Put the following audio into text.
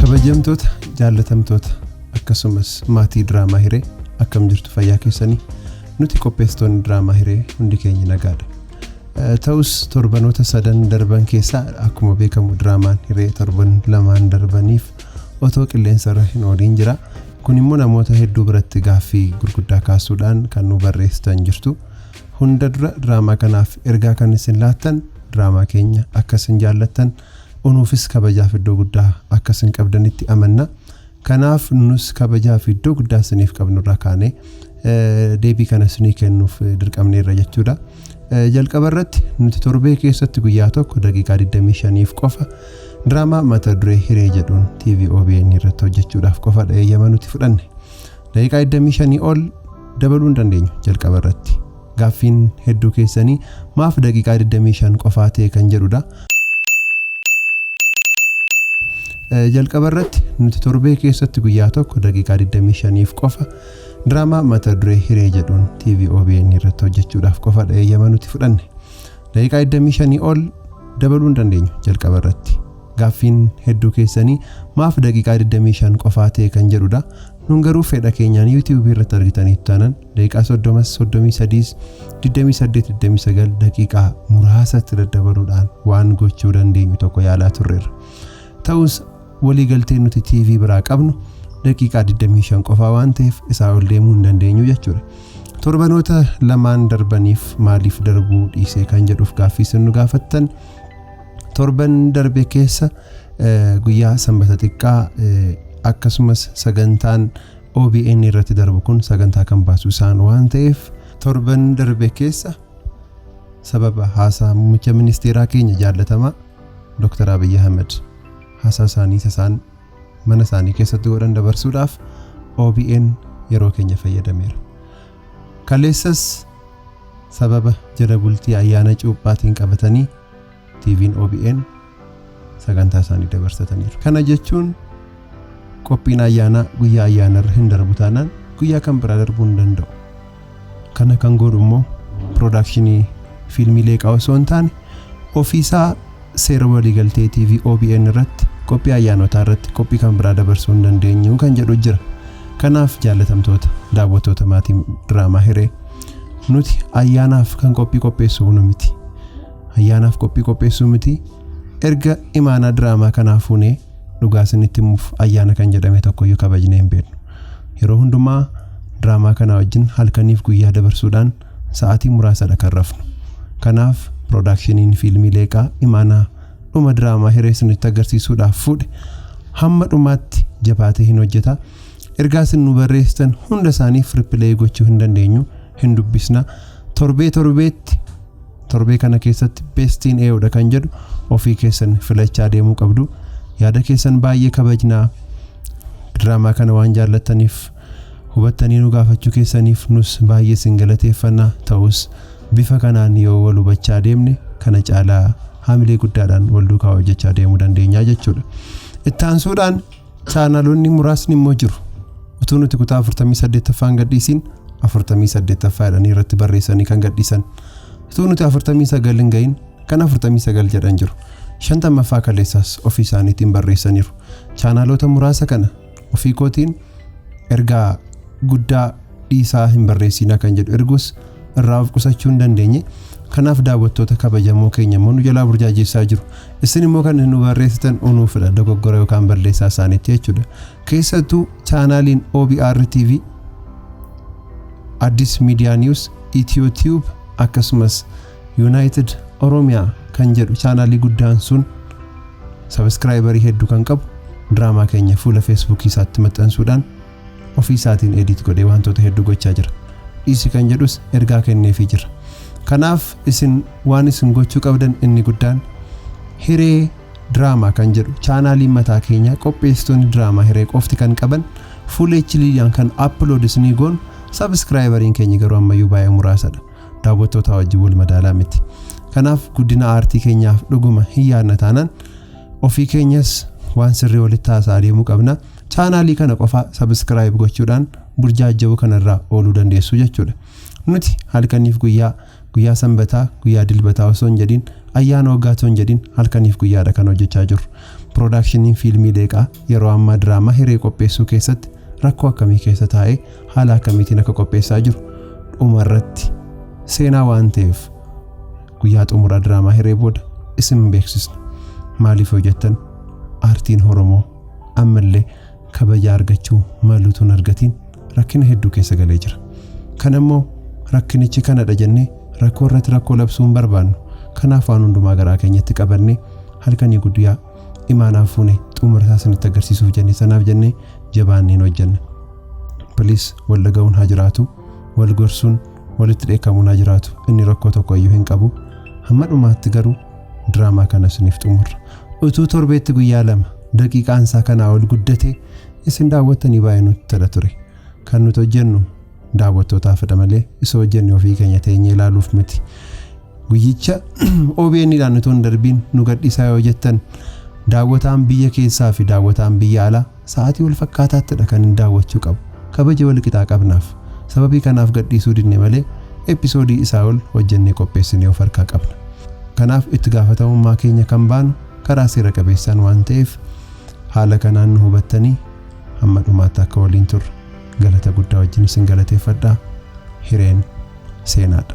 kabajamtoota jaallatamtoota akkasumas maatii diraamaa hiree akkam jirtu fayyaa keessanii nuti qopheessitoonni diraamaa hiree hundi keenya nagaadha Eh, ta'us torbanoota sadan darban keessaa akkuma beekamu diraamaan hiree torban lamaan darbaniif otoo qilleensarra hin ooliin jira kun immoo namoota hedduu biratti gaaffii gurguddaa kaasuudhaan kan nu barreessitan jirtu Hunda dura diraamaa kanaaf ergaa kan isin laattan diraamaa keenya akka isin jaallattan unuufis kabajaaf iddoo guddaa akka isin qabdanitti amanna. Kanaaf nus kabajaa fi iddoo guddaa isiniif qabnurraa kaanee deebii kana isinii kennuuf dirqamneerra jechuudha. Jalqaba irratti nuti torbee keessatti guyyaa tokko daqiiqaa 25f qofa diraamaa mata duree hiree jedhuun TV OBN irratti hojjechuudhaaf qofadha eeyyama nuti fudhanne. Daqiiqaa 25 ol dabaluu hin dandeenyu jalqaba irratti. Gaaffiin hedduu keessanii maaf daqiiqaa 25 qofaa ta'e kan jedhudha. Jalqaba irratti nuti torbee keessatti guyyaa tokko daqiiqaa 25f qofa diraamaa mata duree hiree jedhuun TV OBN irratti hojjechuudhaaf qofa eeyyama nuti fudhanne. Daqiiqaa 25 ol dabaluu hin dandeenyu jalqaba irratti. Gaaffiin hedduu keessanii maaf daqiiqaa 25 qofaa ta'e kan jedhudha. Nun garuu fedha keenyaan YouTube irratti argitaniitu taanan daqiiqaa 30s, 33s, 28, 29 daqiiqaa muraasatti daddabaluudhaan waan gochuu dandeenyu tokko yaalaa turreerra. Ta'us waliigalteen nuti TV biraa qabnu daqiiqaa 25 qofaa waan ta'eef isaa ol deemuu hin dandeenyu jechuudha. Torbanoota lamaan darbaniif maaliif darbuu dhiisee kan jedhuuf gaaffii isin nu gaafattan Torban darbe keessa guyyaa sanbata xiqqaa akkasumas sagantaan OBN irratti darbu kun sagantaa kan baasu isaan waan ta'eef torban darbe keessa sababa haasaa muummicha ministeeraa keenya jaallatamaa Dr. Abiy Ahmed haasaa isaanii isaan mana isaanii keessatti godhan dabarsuudhaaf OBN yeroo keenya fayyadameera. Kaleessas sababa jala bultii ayyaana cuuphaatiin qabatanii TV'n OBN sagantaa isaanii dabarsataniiru. Kana jechuun qophiin ayyaanaa guyyaa ayyaanarra hin darbu taanaan guyyaa kan biraa darbuu hin danda'u. Kana kan godhu immoo piroodakshinii fiilmii leeqaa osoo hin taane ofiisaa seera waliigaltee TV OBN irratti qophii ayyaanotaa irratti qophii kan biraa dabarsuu hin dandeenyu kan jedhu jira. Kanaaf jaallatamtoota daawwattoota maatii diraamaa hiree nuti ayyaanaaf kan qophii qopheessu nu miti. Ayyaanaaf qophii qopheessuu miti. Erga imaanaa diraamaa kanaa fuunee dhugaa isinitti himuuf ayyaana kan jedhame tokkoyyuu kabajnee hin beeknu. Yeroo hundumaa diraamaa kanaa wajjin halkaniif guyyaa dabarsuudhaan sa'aatii muraasadha kan rafnu. Kanaaf piroodaakshiniin fiilmii Leeqaa imaanaa dhuma diraamaa hiree isinitti agarsiisuudhaaf fuudhe hamma dhumaatti jabaatee hin hojjeta. Ergaa isin nu barreessitan hunda isaaniif ripileeyii gochuu hin dandeenyu hin dubbisna. Torbee torbeetti Torbee kana keessatti best in AO dha kan jedhu ofii keessan filachaa deemuu qabdu. Yaada keessan baay'ee kabajnaa. Diraamaa kana waan jaallattaniif hubattanii nu gaafachuu keessaniif nus baay'ee isin galateeffanna. Ta'us bifa kanaan yoo wal hubachaa deemne kana caalaa hamilee guddaadhaan wal duukaa hojjechaa deemuu dandeenya jechuudha. Ittaansuudhaan Chaanaloonni muraasni immoo jiru. Utuu nuti kutaa 48ffaa hin gadhiisiin 48ffaa jedhanii irratti barreessanii kan gadhiisan. Utuu nuti 49 hin gahin kan 49 jedhan jiru. 50ffaa kaleessaas ofii isaaniitiin barreessaniiru. Chaanaloota muraasa kana ofii kootiin ergaa guddaa dhiisaa hin barreessiinaa kan jedhu ergus irraa of qusachuu hin dandeenye. Kanaaf daawwattoota kabajamoo keenya immoo nu jalaa burjaajessaa jiru. Isin immoo kan nu barreessitan unuufidha dogoggora yookaan balleessaa isaaniitti jechuudha. Keessattuu chaanaaliin OBR TV, Addis Media News, Itiyoo Tube akkasumas Yuunaayitid Oromiyaa kan jedhu chaanaalii guddaan sun sabiskiraayibarii hedduu kan qabu diraamaa keenya fuula feesbuukii isaatti maxxansuudhaan ofii isaatiin edit godhee wantoota hedduu gochaa jira dhiisi kan jedhus ergaa kenneefii jira kanaaf isin waan isin gochuu qabdan inni guddaan hiree diraamaa kan jedhu chaanaaliin mataa keenyaa qopheessitoonni diraamaa hiree qofti kan qaban full hdiidhaan kan upload isinii goon sabiskiraayibariin keenya garuu ammayyuu baay'ee muraasadha daawwattootaa wajjin wal madaalaa miti kanaaf guddina aartii keenyaaf dhuguma hin yaadna taanaan ofii keenyas waan sirrii walitti haasaa deemuu qabna Chaanaalii kana qofa subscribe gochuudhaan burjaajja'uu kanarraa ooluu dandeessu jechuudha. Nuti halkaniif guyyaa, guyyaa sanbataa, guyyaa dilbataa osoo hin jedhin, ayyaana waggaa osoo hin jedhin halkaniif guyyaadha kan hojjechaa jirru. Piroodaakshiniin fiilmii Leeqaa yeroo ammaa diraamaa hiree qopheessuu keessatti rakkoo akkamii keessa taa'ee haala akkamiitiin akka qopheessaa jiru dhuma irratti seenaa waan ta'eef guyyaa xumuraa diraamaa hiree booda isin beeksisna. Maaliif yoo jettan aartiin Oromoo ammallee kabaja argachuu malu tun argatiin rakkina hedduu keessa galee jira. Kan ammoo rakkinichi kanadha jennee rakkoo irratti rakkoo labsuu hin barbaannu. Kanaaf waan hundumaa garaa keenyatti qabannee halkanii guddiyaa imaanaan fuune xumura isaa isinitti agarsiisuuf jennee sanaaf jennee jabaanneen hojjenna. Please wal dhaga'uun haa jiraatu, wal gorsuun walitti dheekkamuun haa jiraatu. Inni rakkoo tokko iyyuu hin qabu. Hamma dhumaatti garuu diraamaa kana isiniif xumurra. Utuu torbeetti guyyaa lama daqiiqaan isaa kanaa ol guddate isin daawwattanii baay'ee nutti tola ture. Kan nuti hojjennu daawwattootaafidha malee isa hojjenne ofii keenya teenyee ilaaluuf miti. Guyyicha OBN dhaan utuu hin darbiin nu gadhiisaa yoo jettan daawwataan biyya keessaa fi daawwataan biyya alaa Sa'aatii wal fakkaataattidha kanin daawwachuu qabu. Kabaja wal qixaa qabnaaf. Sababii kanaaf gadhiisuu didne malee episoodii isaa ol hojjennee qopheessinee of harkaa qabna. Kanaaf itti gaafatamummaa keenya kan baanu karaa seera qabeessaan waan ta'eef haala kanaan nu hubattanii hamma dhumaatti akka waliin turru galata guddaa wajjin isin galateeffadha. Hireen seenaadha.